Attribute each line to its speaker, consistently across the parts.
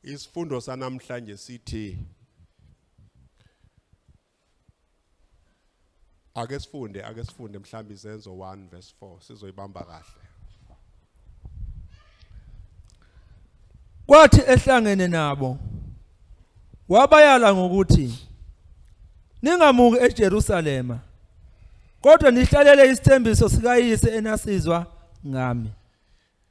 Speaker 1: Isifundo sanamhlanje sithi Ake sifunde ake sifunde mhlawumbe izenzo 1 verse 4 sizoyibamba kahle.
Speaker 2: Kwathi ehlangene nabo wabayala ngokuthi ningamuki eJerusalema kodwa nihlalele isithembiso sikayise enasizwa ngami.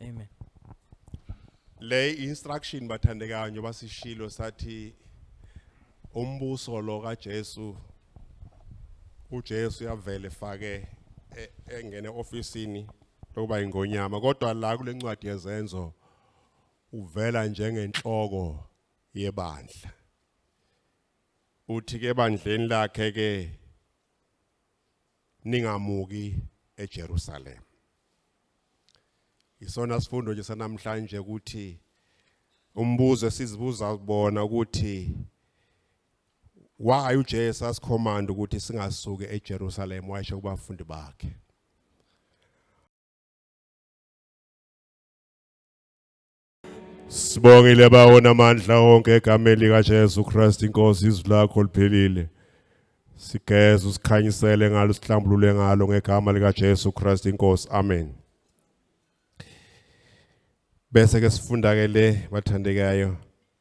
Speaker 3: Amen.
Speaker 1: Le instruction bathandekayo njengoba sishilo sathi umbuso lo kaJesu uJesu yavele efake e- engene ofisini lokuba ingonyama kodwa la kulencwadi yezenzo uvela njengenhloko yebandla uthi ke ebandleni lakhe ke ningamuki eJerusalem isona sifundo nje sanamhlanje ukuthi umbuzo esizibuza kubona ukuthi why uJesu asikhomanda ukuthi singasuki eJerusalem wayesho kubafundi bakhe Sibongile bawona amandla onke egameni lika Jesu Christ inkosi izwi lakho liphelile. Sigeza usikhanyisele ngalo sihlambulule ngalo ngegama lika Jesu Christ inkosi. Amen. Bese ke sifunda ke le bathandekayo.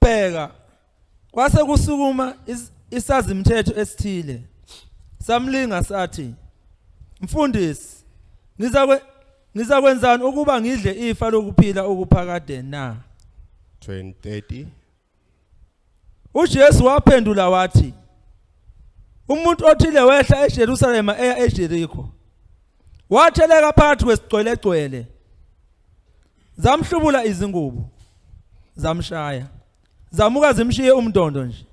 Speaker 2: Bheka kwase kusukuma isazimthetho esithile samlinga sathi mfundisi ngizakwe ngizakwenzani ukuba ngidle ifa lokuphila okuphakade na 2030 uJesu waphendula wathi umuntu othile wehla eJerusalem eya eJeriko watheleka phakathi kwesigcwelegcwele zamhlubula izingubo zamshaya zamuka zimshiye umndondo nje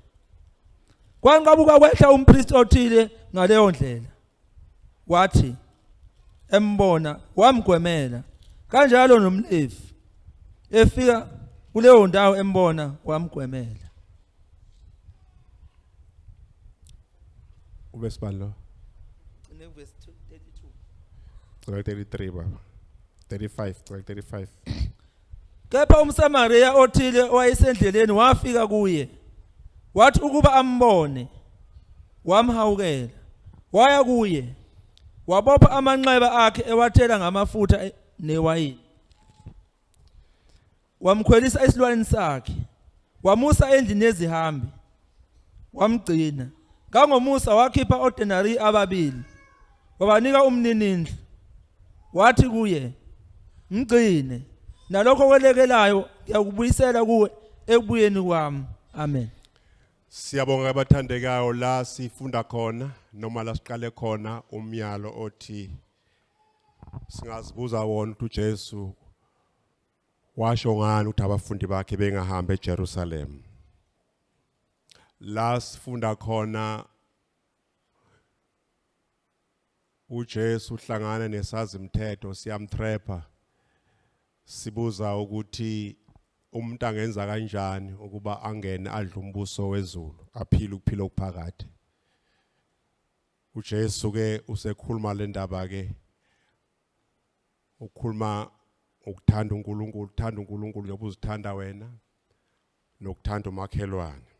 Speaker 2: kwanqabuka kwehla umpriest othile ngaleyo ndlela wathi embona wamgwemela kanjalo nomlevi efika kuleyo ndawo embona wamgwemela
Speaker 1: Uvesi bani lo? Cine
Speaker 2: uvesi 32. Cela
Speaker 1: 33 baba. 35, cela 35.
Speaker 2: Kepha umSamariya othile owayesendleleni wafika kuye. Wathi ukuba ambone wamhawukela. Waya kuye wabopha amanxeba akhe ewathela ngamafutha e- newayini. wamkhwelisa esilwaneni sakhe wamusa endlini yezihambi wamgcina kangomusa wakhipha odenari ababili wabanika umninindlu wathi kuye mgcine nalokho kwelekelayo ngiyakubuyisela kuwe ekubuyeni kwami amen
Speaker 1: Siyabonga abathandekayo la sifunda khona noma la siqale khona umyalo othi Singazibuza wona ukuthi uJesu washo ngani ukuthi abafundi bakhe bengahambi eJerusalem. La sifunda khona uJesu uhlangana nesazimthetho siyamtrapha sibuza ukuthi umuntu angenza kanjani ukuba angene adle umbuso wezulu aphile ukuphila okuphakade uJesu ke usekhuluma le ndaba ke ukhuluma ukuthanda uNkulunkulu uthanda uNkulunkulu njengoba uzithanda wena nokuthanda umakhelwane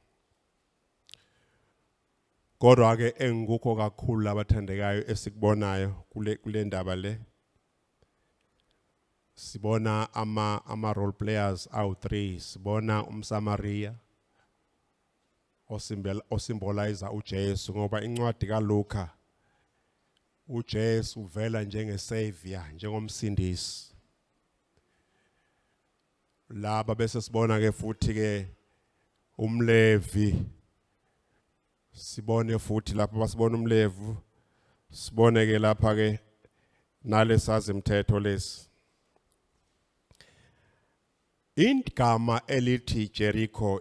Speaker 1: kodwa ke engikukho kakhulu labathandekayo esikubonayo kule kule ndaba le sibona ama ama role players awu3 sibona umsamaria osimbela osimbolize uJesu ngoba incwadi kaLuka uJesu uvela njengesavior njengomsindisi laba bese sibona ke futhi ke umlevi sibone futhi lapha basibona umlevu sibone ke lapha ke nalesazi mthetho lesi Igama elithi Jericho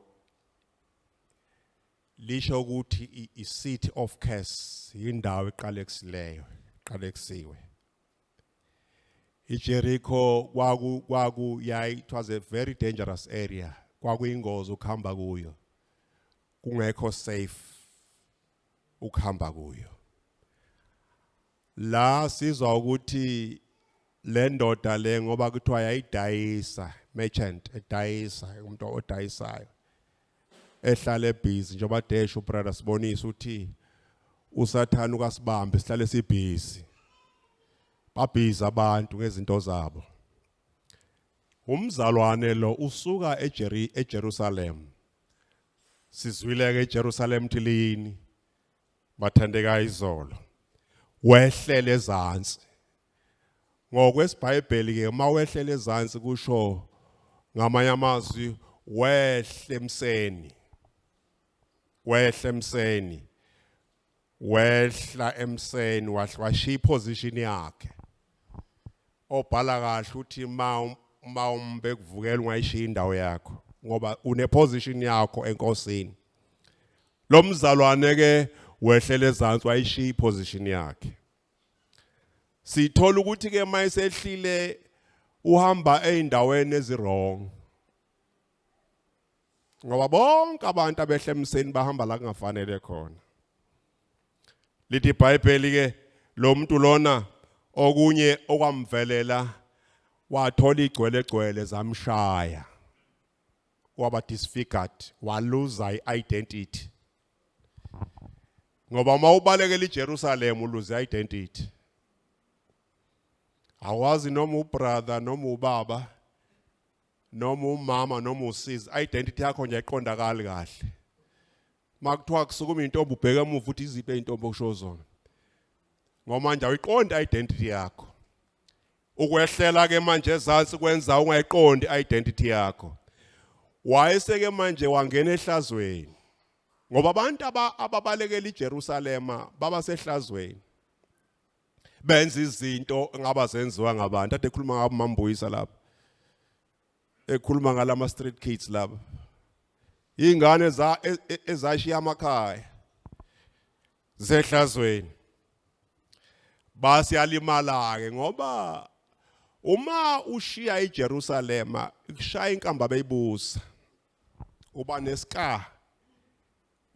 Speaker 1: lisho ukuthi i-city of curse indawo eqalekileyo qaleksiwe iJericho kwaku kwaku yayi it was a very dangerous area kwakuyingozi ukuhamba kuyo kungekho safe ukuhamba kuyo La sizwa ukuthi le ndoda le ngoba kuthiwa yayidayisa merchant edayisa umuntu odayisayo ehlala ebhizi njengoba desho brother sibonisa uthi usathana ukasibambe sihlale sibhizi babhiza abantu ngezinto zabo umzalwane lo usuka eJeri eJerusalem sizwile ke eJerusalem thilini Mathandeka izolo wehlele ezantsi ngokwesibhayibheli ke uma wehlele ezantsi kusho ngamanye amazwi wehle emseni wehle emseni wehla emseni wahlashiya iposition yakhe Obhala kahle uthi ma uma umbe kuvukela ungayishiya indawo yakho ngoba une position yakho enkosini. Lo mzalwane ke wehlela ezantsi wayishiya iposition yakhe. Sithola ukuthi ke mayisehlile uhamba eindaweni eziwrong. ngoba bonke abantu abehla emseni bahamba la kungafanele khona lithi ibhayibheli ke lo muntu lona okunye okwamvelela wathola igcwele gcwele zamshaya waba disfigured waluza i-identity ngoba uma ubalekela iJerusalem uluza i-identity awazi noma ubrother noma ubaba noma umama noma usizi identity yakho nje ayiqondakali kahle makuthiwa kusukuma intombi ubheke emuva uthi iziphe intombi okusho zona ngoba nje ayiqonda identity yakho ukwehlela ke manje ezansi kwenza ungayiqondi identity yakho wayeseke manje wangena ehlazweni ngoba abantu ababalekela iJerusalema baba sehlazweni benza izinto ngaba zenziwa ngabantu ade khuluma ngabo mambuyisa lapha ekhuluma ngalama street kids laba ingane za e, e, ezashiya amakhaya zehlazweni basiyalimala ke ngoba uma ushiya iJerusalema kushaya inkamba beyibusa uba nesika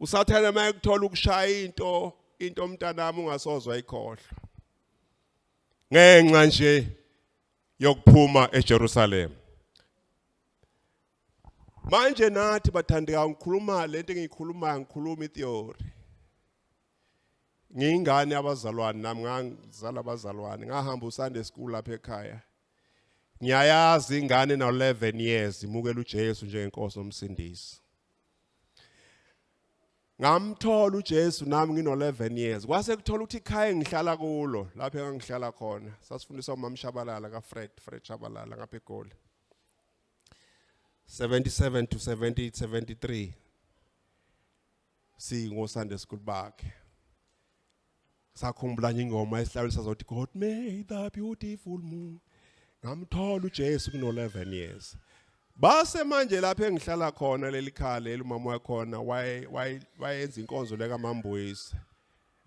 Speaker 1: usathane uma ekuthola ukushaya into into mntanami ungasozwa ikhohlwa ngenxa nje yokuphuma eJerusalem manje nathi bathandeka ngikhuluma lento engiyikhulumayo ngikhuluma itheory ngiyingane abazalwane nami ngangizala abazalwane ngahamba uSunday school lapha ekhaya ngiyayazi ingane na 11 years imukela uJesu njengenkosi nomsindisi ngamthola uJesu nami ngino11 years kwase kuthola ukuthi ikhaya engihlala kulo lapho engihlala khona sasifundiswa umama Shabalala ka Fred Fred Shabalala ngapha eGoli 77 to 78 73 singo Sunday school bakhe sakhumbula nje ingoma esihlawule sazothi God made the beautiful moon ngamthola uJesu kuno 11 years base manje lapha engihlala khona leli khaya leli umama wakhona waye wayenza inkonzo leka mambuyise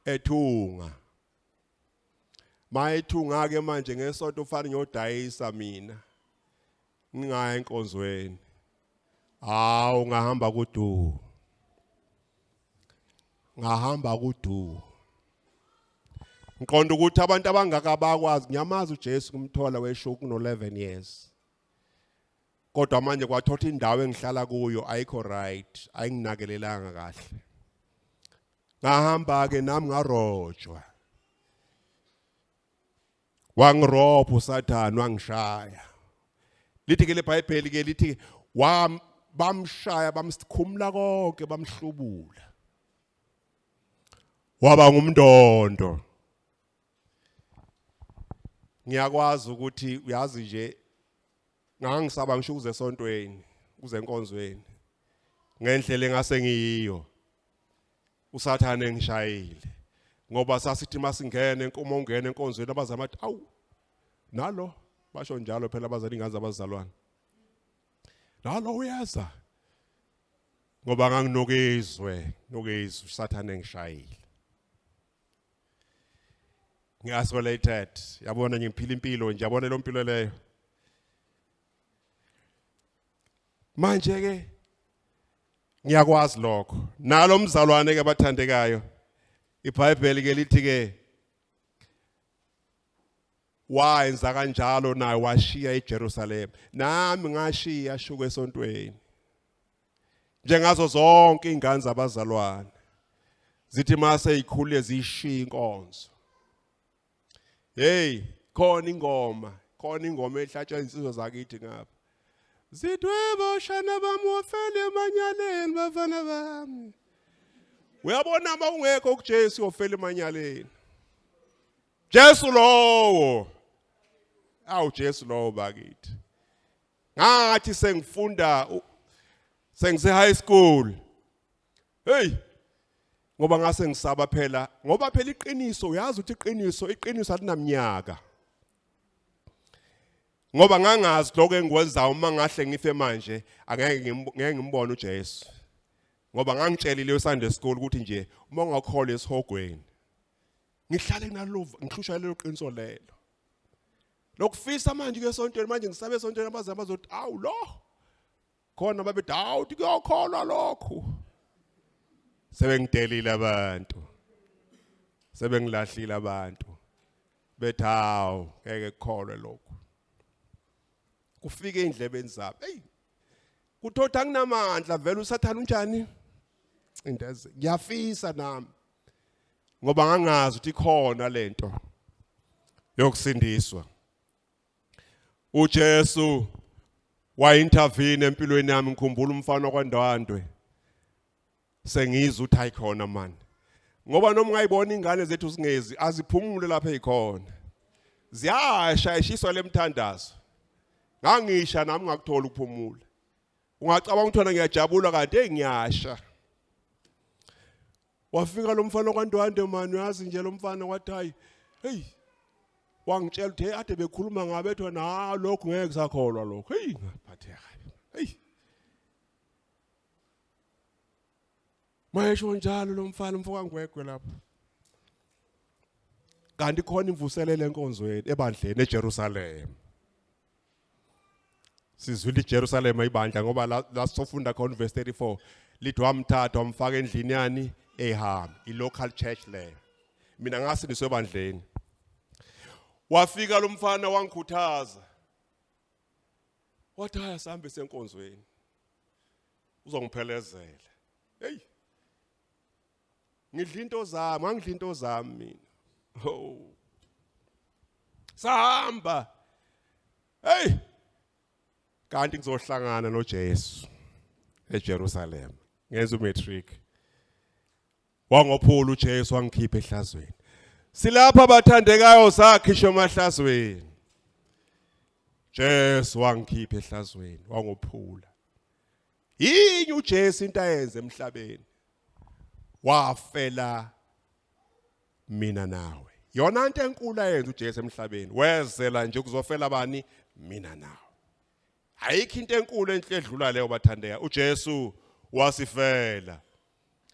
Speaker 1: ethunga mayethunga ke manje ngesonto ufana nyodayisa mina ngingaya enkonzweni hawu ngahamba kudu ngahamba kudu ngiqonda ukuthi abantu abangaka bakwazi ngiyamazi uJesu kumthola wesho kuno 11 years kodwa manje kwathotha indawo engihlala kuyo ayikho right ayinginakelelanga kahle ngahamba ke nami ngarojwa wangirobha usathane wangishaya lithi ke lebhayibheli ke lithi wam bamshaya bamsikhumula konke bamhlubula waba ngumndondo ngiyakwazi ukuthi uyazi nje ngangisaba ngisho kuze esontweni kuze enkonzweni ngendlela engase ngiyiyo usathane ngishayile ngoba sasithi masingene uma ungena enkonzweni abazama athi awu nalo basho njalo phela abazali ngazi abazalwane nalo uyeza ngoba nganginokizwe nokizwe usathane ngishayile ngi-isolated yabona ngiphila impilo nje yabona lo mpilo leyo manje-ke ngiyakwazi lokho nalo mzalwane ke bathandekayo iBhayibheli ke lithi ke wayenza kanjalo naye washiya eJerusalem nami ngashiya shuke esontweni njengazo zonke ingane zabazalwane zithi mase ikhule zishiya inkonzo hey khona ingoma khona ingoma ehlatshwa insizwa zakithi ngapha zidwebo shana bami wofele emanyaleni bafana bami uyabona uma ungekho kuJesu wofele emanyaleni Jesu lowo awu Jesu lowo bakithi ngathi sengifunda sengise high school hey ngoba ngase ngisaba phela ngoba phela iqiniso uyazi ukuthi iqiniso iqiniso alinamnyaka ngoba ngangazi lokho engikwenzayo uma ngahle ngife manje angeke ngeke ngimbone uJesu ngoba ngangitshelile eSunday school ukuthi nje uma ungakholwa esihogweni ngihlale nalova ngihlushwa lelo qiniso lelo lokufisa manje ke esontweni manje ngisabe esontweni abaze abazothi awu lo khona babethi hawu uthi kuyokholwa lokhu sebengidelile abantu sebengilahlile abantu bethi hawu ngeke kukholwe lokhu kufike indlebeni zabo hey kuthotha kunamandla vele usathana unjani into eze ngiyafisa nami ngoba ngangazi ukuthi ikhona lento yokusindiswa uJesu wayintervene empilweni yami ngikhumbula umfana kwaNdwandwe sengizwe uthi ayikhona mani ngoba noma ungayibona ingane zethu zingezi aziphumule lapha ezikhona ziyasha eshiswa lemthandazo ngangisha nami ngakuthola ukuphumula ungacabanga ukuthi wena ngiyajabula kanti hey ngiyasha wafika lo mfana kwandwande mani uyazi nje lo mfana wathi hayi hey wangitshela ukuthi hey ade bekhuluma ngabe ethi wena ha lokho ngeke kusakholwa lokho hey ngaphatheka hey mayesho njalo lo mfana umfoka ngwegwe lapho kanti khona imvuselele enkonzweni ebandleni eJerusalem sizwile iJerusalema ibandla ngoba la la sofunda khona verse 34 lithi wamthatha wamfaka endlini yani ehambe i local church leyo mina ngase niswebandleni wafika lo mfana wangikhuthaza wathi haya sihambe senkonzweni uzongiphelezela hey ngidla into zami angidla into zami mina ho sahamba hey kanti ngizohlangana noJesu eJerusalem ngenza umatric wangophula uJesu wangikhipha ehlazweni silapha abathandekayo sakhisha emahlazweni Jesu wangikhipha ehlazweni wangophula yini uJesu into ayenze emhlabeni wafela mina nawe yona into enkulu ayenza uJesu emhlabeni wezela nje kuzofela bani mina nawe ayikho into enkulu enhle edlula leyo bathandeka uJesu wasifela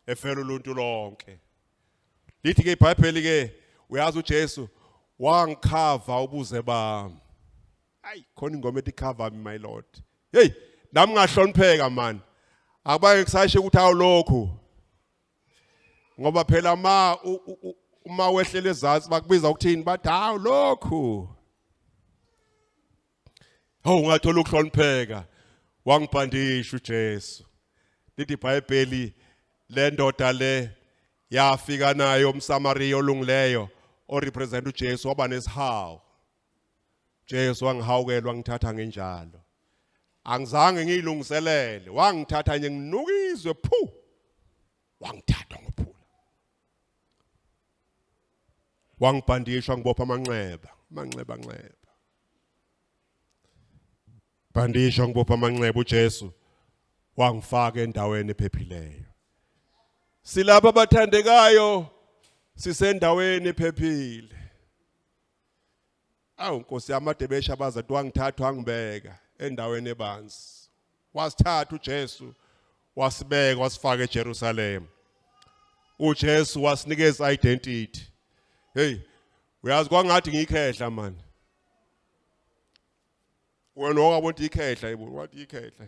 Speaker 1: efela uluntu lonke lithi ke iBhayibheli ke uyazi uJesu wangikhava ubuze bami ayi khona ingoma ethi cover me my lord hey nami ngahlonipheka man akubange kusashe ukuthi awulokhu ngoba phela ma uma wehlela ezantsi bakubiza ukuthini bathi hawu lokhu hawu ungathola ukuhlonipheka wangibhandisha uJesu lithi iBhayibheli le ndoda le yafika nayo umSamariya olungileyo orepresent uJesu waba nesihawu Jesu wangihawukela wangithatha ngenjalo angizange ngiyilungiselele wangithatha nje nginukizwe phu wangithatha ngophula wangibhandisha ngibopha amanxeba amanxeba nxeba bandisha ngibopha amanxeba uJesu wangifaka endaweni ephephileyo silapha abathandekayo sisendaweni ephephile awu nkosi yami adebesha baza twangithatha wangibeka endaweni ebanzi wasithatha uJesu wasibeka wasifaka eJerusalem uJesu wasinikeza identity hey uyazi kwangathi ngikhehla manje wena ongabona ikhehla yibo wathi ikhehla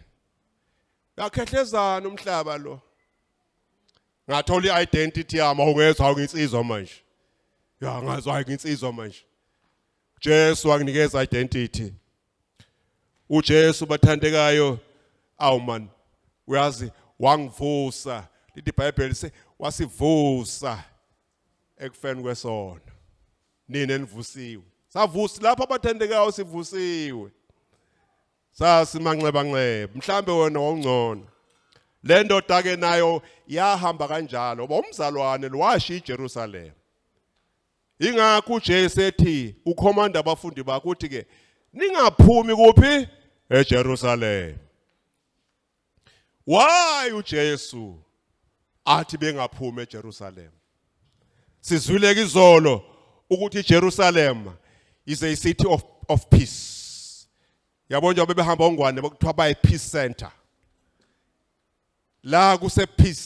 Speaker 1: yakhehlezana umhlaba lo ngathola i-identity yami awungezwa awunginsizwa manje ya ngazwa nginsizwa manje Jesu wanginikeza identity uJesu bathandekayo awu man uyazi wangivusa lithi iBhayibheli se wasivusa ekufeni kwesona nina enivusiwe savusi lapha abathandekayo sivusiwe Sasi manxeba nxeba, mhlambe wena wawungcono. Le ndoda ke nayo yahamba kanjalo, ngoba umzalwane lo washiya iJerusalem. Ingakho uJesu ethi ukhomanda abafundi bakhe uthi ke ningaphumi kuphi eJerusalem. why uJesu athi bengaphumi eJerusalem sizwile izolo ukuthi iJerusalem is a city of of peace yabona njengoba bebehamba ongwane bakuthiwa baye peace center la kuse peace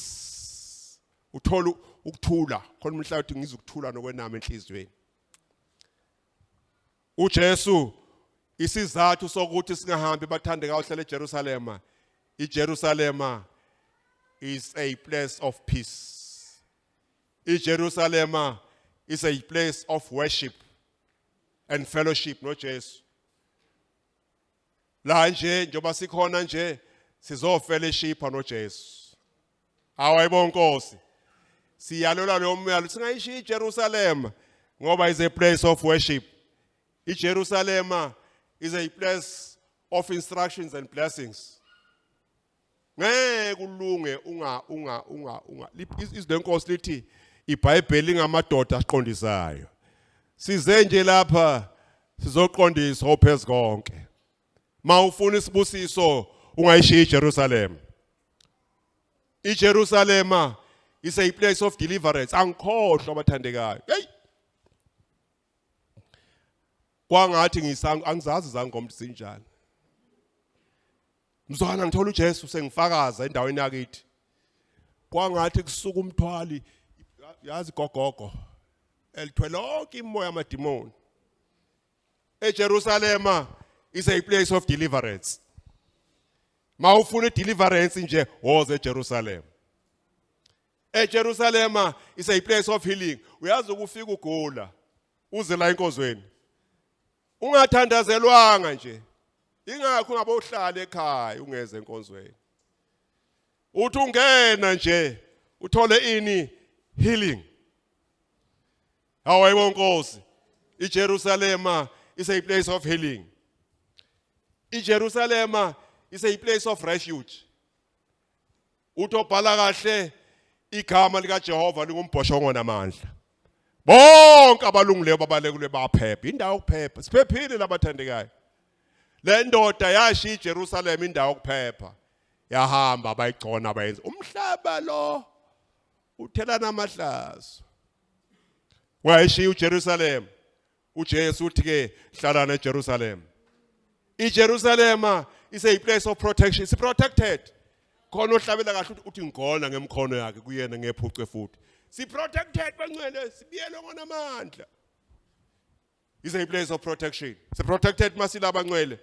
Speaker 1: uthola ukuthula khona umhlabathi ngizokuthula nokwenama enhlizweni UJesu, Isizathu sokuthi singahambi bathandekayo hlala eJerusalema, iJerusalema is a place of peace. IJerusalema is a place of worship and fellowship noJesu. La nje njoba sikhona nje sizofellowshipa noJesu. Hawu ayibo Nkosi. Siyalelwa lo myalo singayishiya iJerusalem ngoba is a place of worship. IJerusalem is a place of instructions and blessings. Ngeke kulunge unga unga unga unga izwi lenkosi lithi iBhayibheli ngamadoda aqondisayo. Size nje lapha sizoqondiswa ophezu konke. mawufuna isibusiso ungayishiya iJerusalem iJerusalema is a place of deliverance angikhohlwa abathandekayo hey kwangathi ngisangu angizazi zangoma sinjani mzwana ngithola uJesu sengifakaza endaweni yakithi kwangathi kusuka umthwali yazi gogogo elithwele lonke imoya amadimoni eJerusalema is a place of deliverance mawufuna deliverance nje woze eJerusalem eJerusalema is a place of healing uyazi ukufika ugula uze la enkozweni ungathandazelwanga nje ingakho ungabe uhlala ekhaya ungeze enkonzweni uthi ungena nje uthole ini healing Hawu hayibo Nkosi. IJerusalema is a place of healing. IJerusalema is a place of refuge. Uthi obhala kahle igama lika Jehova lingumbhoshongo namandla. Bonke abalungileyo babalekule baphepha. Indawo yokuphepha. Siphephile labathandekayo. Le ndoda yashiya iJerusalem indawo yokuphepha. Yahamba bayigcona bayenza umhlaba lo. uthelana amahlazo wayeshiya uJerusalem uJesu uthi ke hlalana eJerusalem iJerusalema ise a place of protection is protected khona ohlabela kahle uthi ngigona ngemkhono yakhe kuyena ngephucwe futhi si protected bangcwele sibiyelwe ngonamandla is a place of protection si protected masila abancwele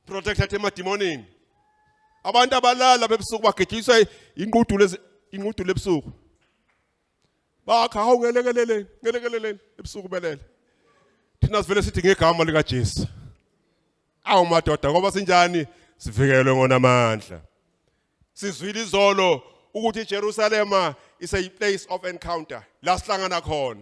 Speaker 1: protected emademonini abantu abalala bebusuku bagejiswa inqudulo inqudulo ebusuku bakha hawu ngelekeleleni ngelekeleleni ebusuku belele thina sivele sithi ngegama lika Jesu awu madoda ngoba sinjani sivikelwe ngonamandla sizwile izolo ukuthi iJerusalema is a place of encounter la sihlangana khona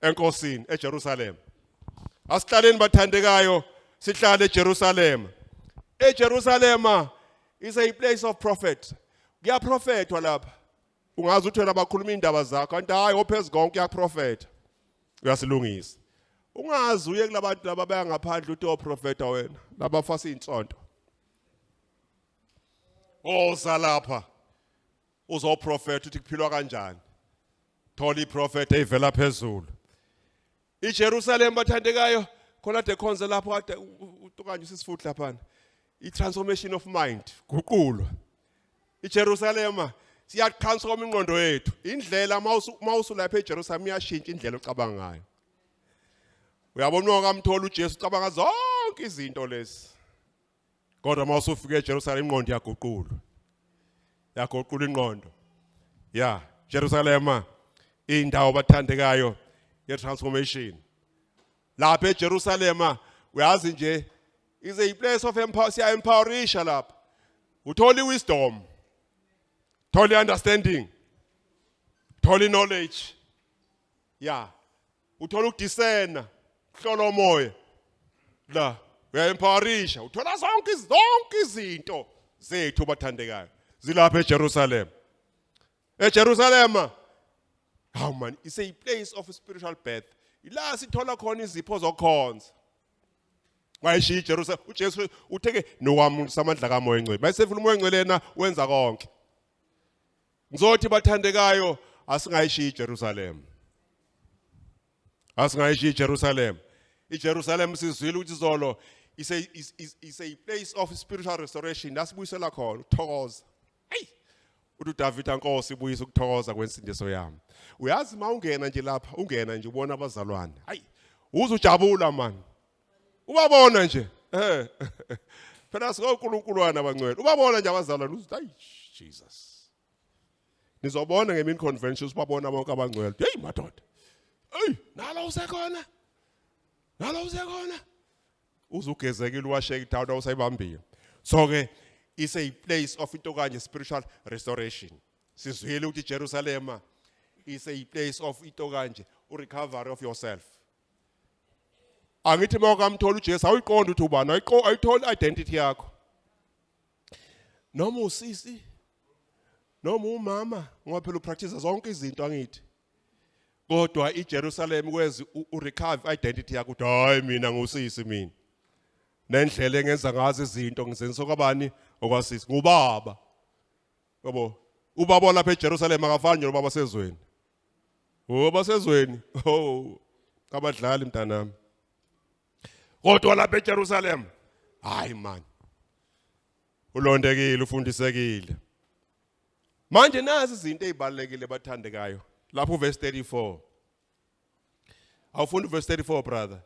Speaker 1: enkosini eJerusalem asihlaleni bathandekayo sihlale eJerusalem eJerusalem is a place of prophet kuyaprofethwa lapha ungazi ukuthi wena bakhuluma indaba zakho kanti hayi ophezulu konke uyaprofetha uyasilungisa ungazi uye kulabantu laba bayangaphandle uthi oprofeta wena laba fasa insonto oza lapha uzoprofeta uthi kuphilwa kanjani thola iprofeta evela phezulu iJerusalem bathandekayo khona de khonze lapho kade utukanye usisifuthi laphana itransformation of mind guqulwa iJerusalem siyatransform ingqondo yethu indlela mawusu lapha eJerusalem iyashintsha indlela ocabanga ngayo uyabona ukamthola uJesu ucabanga zonke izinto lezi kodwa uma usufika eJerusalem ingqondo yaguqulwa yaguqula ingqondo ya Jerusalema indawo bathandekayo ye transformation lapha eJerusalema uyazi nje is a place of empower siya empowerisha lapha uthola iwisdom thola understanding thola knowledge ya uthola ukudisena hlola umoya la uyaempharisha uthola zonke zonke izinto zethu bathandekayo zilapha eJerusalem eJerusalem hawu man is a place of spiritual birth ila sithola khona izipho zokhonza wayishiya iJerusalem uJesu utheke nowami samandla kamoya engcwele bayisefuna umoya engcwele yena wenza konke Ngizothi bathandekayo asingayishiyi iJerusalem. Asingayishiyi iJerusalem. IJerusalem sizwile ukuthi izolo is a is, is, is a place of spiritual restoration lasibuyisela khona uthokoza. Hey. Uthi uDavid ankosi ibuyisa ukuthokoza kwensindiso yami. Uyazi mawungena nje lapha ungena nje ubona abazalwane. Hayi. Uze ujabula manje. ubabona nje eh phela sikonkulunkulu wana bangcwele ubabona nje abazalwane uthi ayi Jesus nizobona ngemini conventions babona bonke abangcwele hey madoda hey nalo usekhona nalo usekhona uzugezekile uwasheke idawuda usayibambile so ke is a place of into kanye spiritual restoration sizwile ukuthi Jerusalem is a place of into kanje u recovery of yourself angithi uma ukamthola uJesu awuyiqondi ukuthi ubani ayitholi identity yakho noma usisi noma umama ngoba phela upractice zonke izinto angithi kodwa iJerusalem kwezi urecover identity yakho ukuthi hayi mina ngusisi mina nendlela engenza ngazo izinto ngizenso kabani okwasisi ngubaba Yabo, ubaba olapha eJerusalem akafani nje nobaba sezweni. Oh, basezweni. Oh, kabadlali mntanami. Kodwa lapha eJerusalem, hayi man. Ulondekile, ufundisekile. Manje nazi izinto ezibalekile bathandekayo. Lapho verse 34. Awufunda verse 34 brother.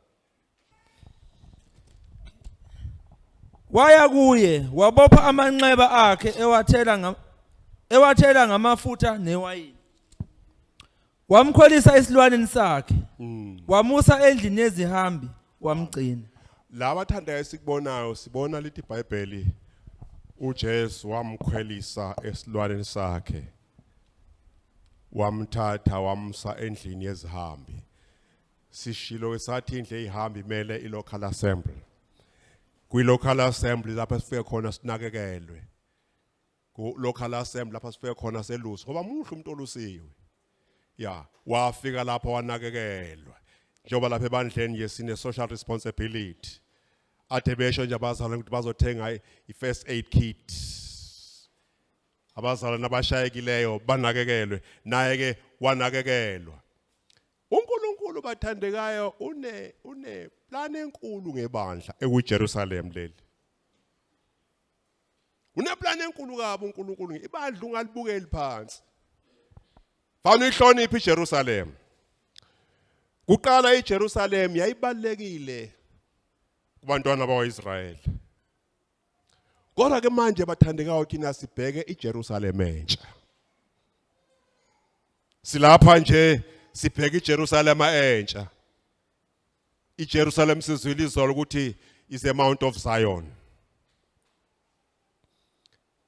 Speaker 2: Waya kuye wabopha amanxeba akhe ewathela ngam ewathela ngamafutha newayini. Wamkholisa esilwaneni sakhe. Mm. Wamusa endlini yezihambi wamgcina. Laba
Speaker 1: thandayo esikubonayo sibona lithi iBhayibheli uJesu wamkhwelisa esilwaneni sakhe. wamthatha wamsa endlini yezihambi sishilo esathi indle ezihambi imele ilocal assembly kwi local assembly lapha sifike khona sinakekelwe ku local assembly lapha sifike khona selusi ngoba muhle umuntu olusiwe ya wafika lapha wanakekelwa njengoba lapha ebandleni nje sine social responsibility athe besho nje abazali ukuthi bazothenga i first aid kit abazalwane abashayekileyo banakekelwe naye ke wanakekelwa uNkulunkulu bathandekayo une une plan enkulu ngebandla ekuJerusalem leli une plan enkulu kabi uNkulunkulu ibandla ungalibukeli phansi fana ihloniphe iJerusalem kuqala iJerusalem yayibalekile kubantwana bakwaIsrayeli Kodwa ke manje bathandekayo thina sibheke iJerusalem entsha. Silapha nje sibheke iJerusalem entsha. iJerusalem sizwile izolo ukuthi is a mount of Zion.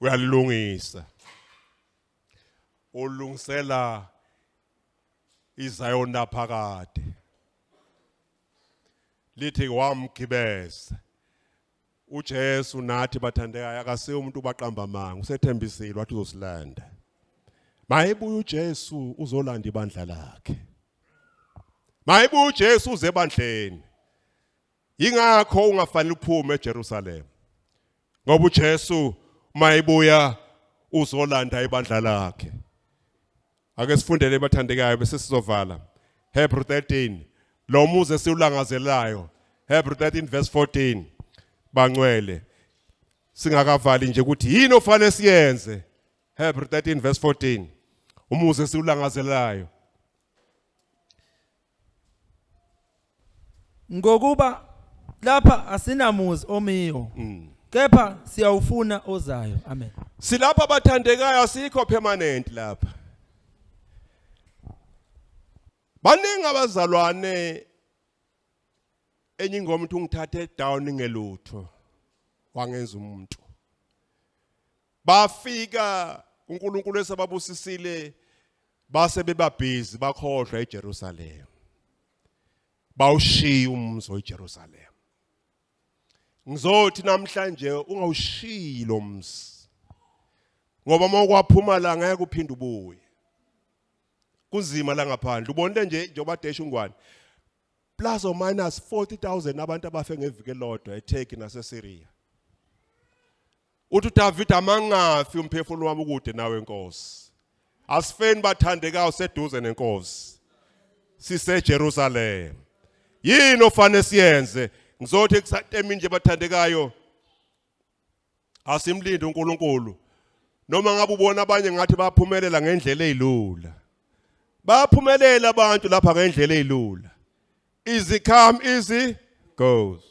Speaker 1: uyalilungisa ulungisela iZion naphakade lithi wamgibeza uJesu nathi bathandekayo akasiyo umuntu ubaqamba amanga usethembisile wathi uzosilanda mayibuye uJesu uzolanda ibandla lakhe mayibuye uJesu uze ebandleni Yingakho ungafanele uphume eJerusalema. Ngoba uJesu mayibuya uzolanda ibandla lakhe. Ake sifundele bathandekayo bese sizovala. Hebrew 13 lo muzi esiwulangazelayo Hebrew 13 verse 14 bangcwele singakavali nje ukuthi yini ofanele siyenze Hebrew 13 verse 14 umuzi esiwulangazelayo
Speaker 2: Ngokuba lapha asinamuzi omiyo. Mm. Kepha siyawufuna ozayo. Amen. Silapha
Speaker 1: bathandekayo asikho permanent lapha. Baningi abazalwane enye ingoma uthi ungithathe down ngelutho wangenza umuntu bafika uNkulunkulu esababusisile base bebabhizi bakhohlwa eJerusalem bawushiya umzi oJerusalem ngizothi namhlanje ungawushiyi lo mzi ngoba uma kwaphuma la ngeke uphinde ubuye kunzima la ngaphandle ubonile nje njengoba desha ungwane plus or minus 40000 abantu abafe ngeviki elodwa eTurkey naseSyria uthi uDavid amangafi umphefumulo wami ukude nawe Nkosi asifeni bathandekayo seduze nenkosi siseJerusalem yini ofanele siyenze ngizothi kusatemini nje bathandekayo asimlinde uNkulunkulu noma ngabe ubona abanye ngathi baphumelela ngendlela ezilula baphumelela abantu lapha ngendlela ezilula easy come easy goes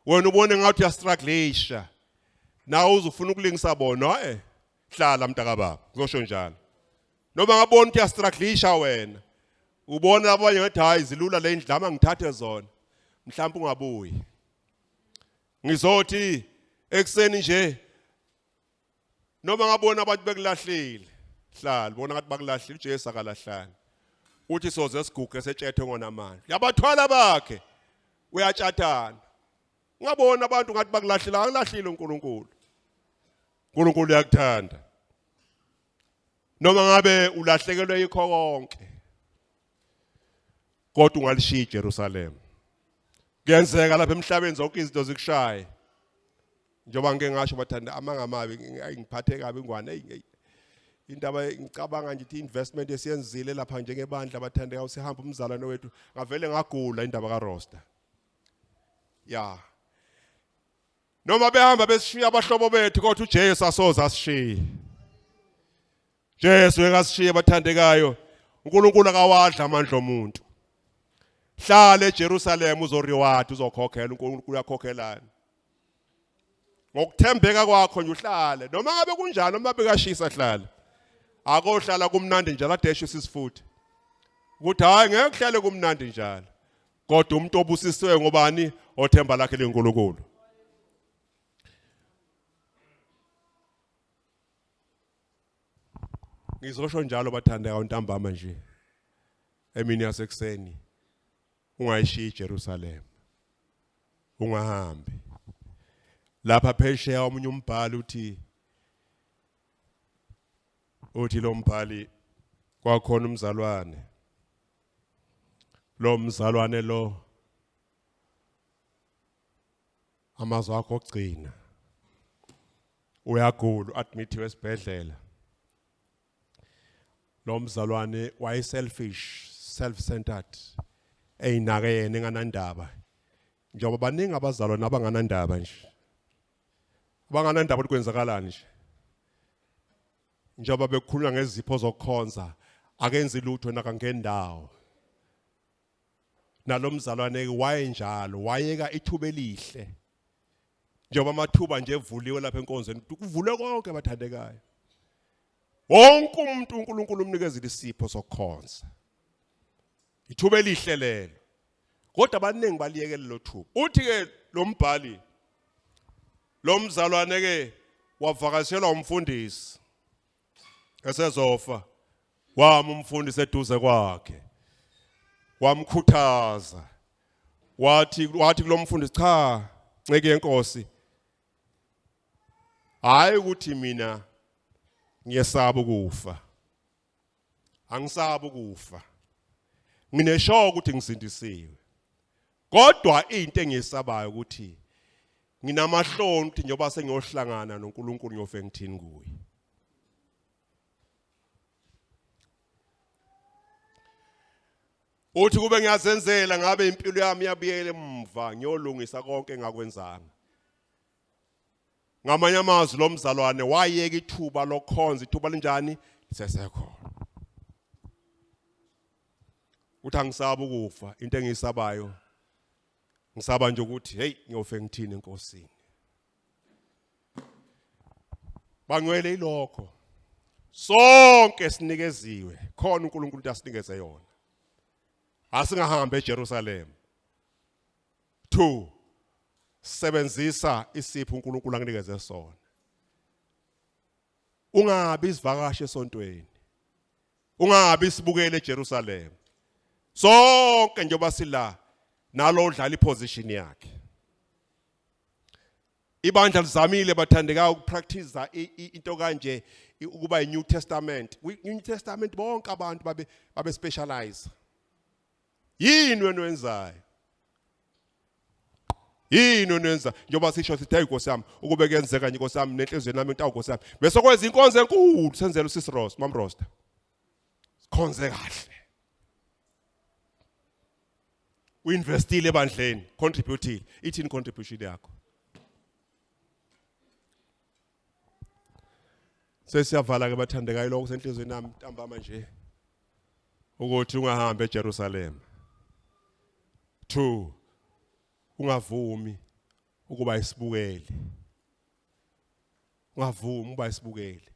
Speaker 1: wena ubone ngathi uyastrugglesha nawe uzufuna ukulingisa bona eh hlala mntakababa ngizosho njalo noma ngabona ukuthi uyastruglisha wena ubona abanye ngathi hayi zilula le ndlama ngithathe zona mhlawumbe ungabuyi ngizothi ekseni nje noma ngabona abantu bekulahlile hlala bona ngathi bakulahlile uJesu akalahlanga uthi soze siguge setshethe ngona manje yabathwala bakhe uyatshathana ungabona abantu ngathi bakulahlile akulahlile uNkulunkulu uNkulunkulu uyakuthanda noma ngabe ulahlekelwe yikho konke kodwa ungalishiya iJerusalem kuyenzeka lapha emhlabeni zonke izinto zikushaye njengoba ngike ngasho bathanda amanga amabi ngiphathe kabi ngwane hey indaba ngicabanga nje ukuthi investment esiyenzile lapha njengebandla bathandeka usihamba umzalwane wethu ngavele ngagula indaba kaRosta ya noma behamba besishiya abahlobo bethu kodwa uJesu asoza asishiye Jesu ekasishiye bathandekayo uNkulunkulu akawadla amandla omuntu hlala eJerusalem uzoriward uzokhokhela uNkulunkulu uyakhokhelana ngokuthembeka kwakho nje uhlale noma ngabe kunjani noma bekashisa hlala akohlala kumnandi njalo adeshe sisifuthi ukuthi hayi ngeke kuhlale kumnandi njalo kodwa umuntu obusisiwe ngobani othemba lakhe lenkulunkulu ngizosho njalo bathandeka ntambama nje emini yasekuseni ungayishiyi iJerusalem ungahambi lapha phesheya omunye umbhali uthi uthi lo mbhali kwakhona umzalwane lo mzalwane lo amazwi akho ogcina uyagula admithiwe esibhedlela lo mzalwane waye selfish self centered eyinake yena enganandaba njengoba baningi abazalwane abanganandaba nje abanganandaba ukuthi kwenzakalani nje njengoba bekukhulunywa ngezipho zokukhonza akenzi lutho nakangendawo nalomzalwane wayenjalo wayeka ithuba elihle njengoba amathuba nje evuliwe lapha enkonzweni kuvule konke abathandekayo wonke umuntu uNkulunkulu umnikeza isipho sokukhonza Ithuba elihle lelo. Kodwa abaningi baliyekela lo thuba. Uthi ke lo mbhali lo mzalwane ke wavakashelwa umfundisi esezofa wama umfundisi eduze kwakhe wamkhuthaza wathi wathi kulomfundisi cha nceke yenkosi hayi ukuthi mina ngiyesaba ukufa angisabi ukufa ngineshoka ukuthi ngisindisiwe kodwa into engiyesabayo ukuthi nginamahloni ukuthi njengoba sengiyohlangana noNkulunkulu ngiyofe ngithini kuye uthi kube ngiyazenzela ngabe impilo yami yabuyele emva ngiyolungisa konke engakwenzanga ngamanye amazwi lo mzalwane wayeka ithuba lokhonza ithuba linjani lisesekhona uthi angisaba ukufa into engiyisabayo ngisaba nje ukuthi hey ngiyofe ngithini enkosini bangcwele ilokho sonke sinikeziwe khona uNkulunkulu asinikeze yona asingahambe eJerusalem 2 sebenzisa isipho uNkulunkulu akunikeze sona ungabi isivakashi esontweni ungabi sibukele eJerusalem sonke njengoba sila nalo udlala iposition yakhe ibandla lizamile bathandeka ukupractice into kanje ukuba iNew Testament kwiNew Testament bonke abantu babe babe specialize yini wena wenzayo yini onenza njengoba sisho sithi hayi Nkosi yami ukube kuyenzeka nje Nkosi yami nenhliziyo nami intawu Nkosi yami bese kwenza inkonzo enkulu senzela usisi Ross mam Rosta sikhonze kahle uinvestile ebandleni contributile ithini contribution yakho sesiyavala ke bathandekayo lokho senhlizweni nami ntambama nje ukuthi ungahambi eJerusalem 2 ungavumi ukuba isibukeli ungavumi uba isibukeli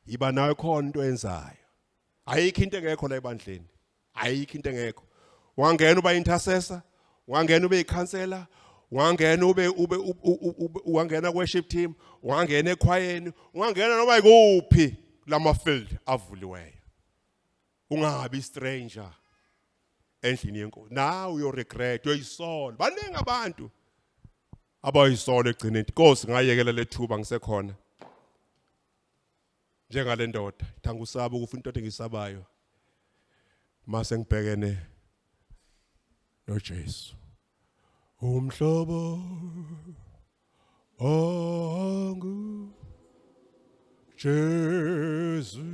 Speaker 1: yiba nawe khona into enzayo ayikho into engekho la ebandleni ayikho into engekho wangena uba intercessor wangena ube ikhansela wangena ube ube wangena worship team wangena ekhwayeni wangena noma ikuphi lama field avuliweyo ungabi stranger endlini yenkosi nawe uyo regret uyoyisola baningi abantu abayisola egcineni inkosi ngayekela lethuba ngisekhona njengale ndoda ngithanga usaba ukufa into engisabayo mase ngibhekene noJesu umhlobo ongu Jesu